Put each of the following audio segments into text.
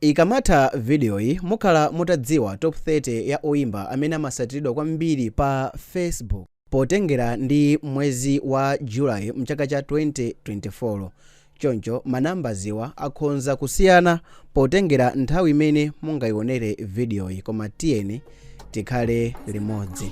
Ikamatha vidiyoyi mukhala mutadziwa Top 30 ya oimba amene amasatiridwa kwambiri pa Facebook potengera ndi mwezi wa July m'chaka cha 2024. Choncho manambaziwa akhonza kusiyana potengera nthawi imene mungaionere vidiyoyi koma tiyeni tikhale limodzi.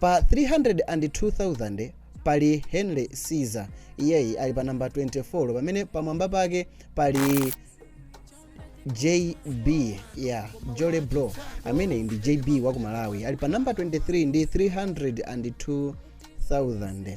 pa 302,000 pali henry caesar iyeyi ali pa namba 24 pamene pamwamba pake pali jb ya jole bro amene ndi jb wa ku malawi ali pa namba 23 ndi 302,000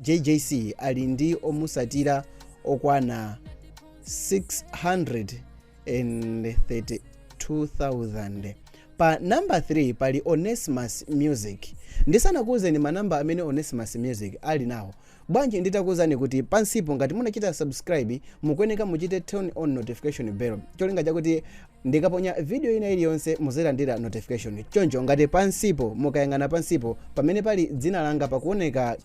jjc ali ndi omusatira okwana 632,000 pa namba 3 pali onesimus music ndisanakuwuzeni manamba amene onesimus music ali nawo bwanji nditakuwuzani kuti pansipo ngati munachita subscribe mukuyeneka muchite turn on notification bell cholinga chakuti Ndikaponya video ina iliyonse muzilandira notification choncho ngati pansipo mukayang'ana pansipo pamene pali dzina langa pakuoneka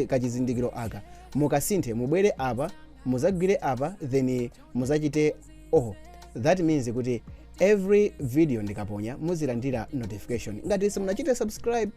kachizindikiro aka mukasinthe mubwere apa muzagwire apa then muzachite all that means kuti every video ndikaponya muzilandira notification ngati simunachite subscribe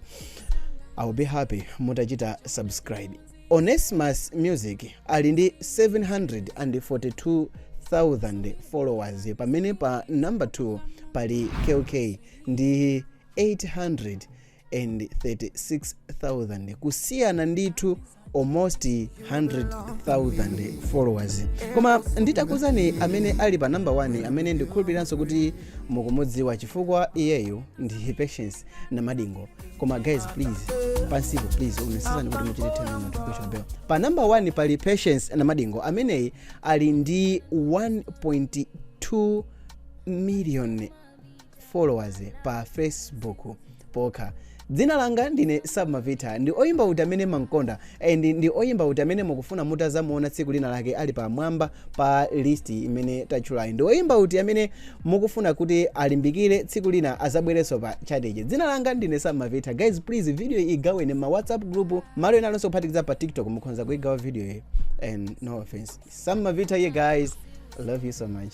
I'll be happy mutachita subscribe Onesimus Music ali ndi 742,000 followers pamene pa number 2 pali Kell Kay ndi 836,000 kusiyana ndithu almost 100,000 followers koma nditakuuzani amene ali pa number 1 amene ndikhulupiriranso kuti mukumudziwa chifukwa iyeyo ndi Patience Namadingo koma guys please pansipo please onesesani kuti muchite turn on notification bell pa number 1 pali patience namadingo ameneyi ali ndi 1.2 million followers pa facebook pokha dzina langa ndine sam mavitha ndi oyimba uti amene mumamkonda And ndi oyimba uti amene mukufuna mutazamuona tsiku lina lake ali pamwamba pa list imene tatchulayi? Ndi oyimba uti amene mukufuna kuti alimbikire tsiku lina azabwerenso pa chart ichi? Dzina langa ndine Sam Mavitha. Guys please video iyi igaweni m'ma WhatsApp group malo ena alionse kuphatikiza pa TikTok mukhonza kuigawa video iyi. And no offense. Sam Mavitha here guys. Love you so much.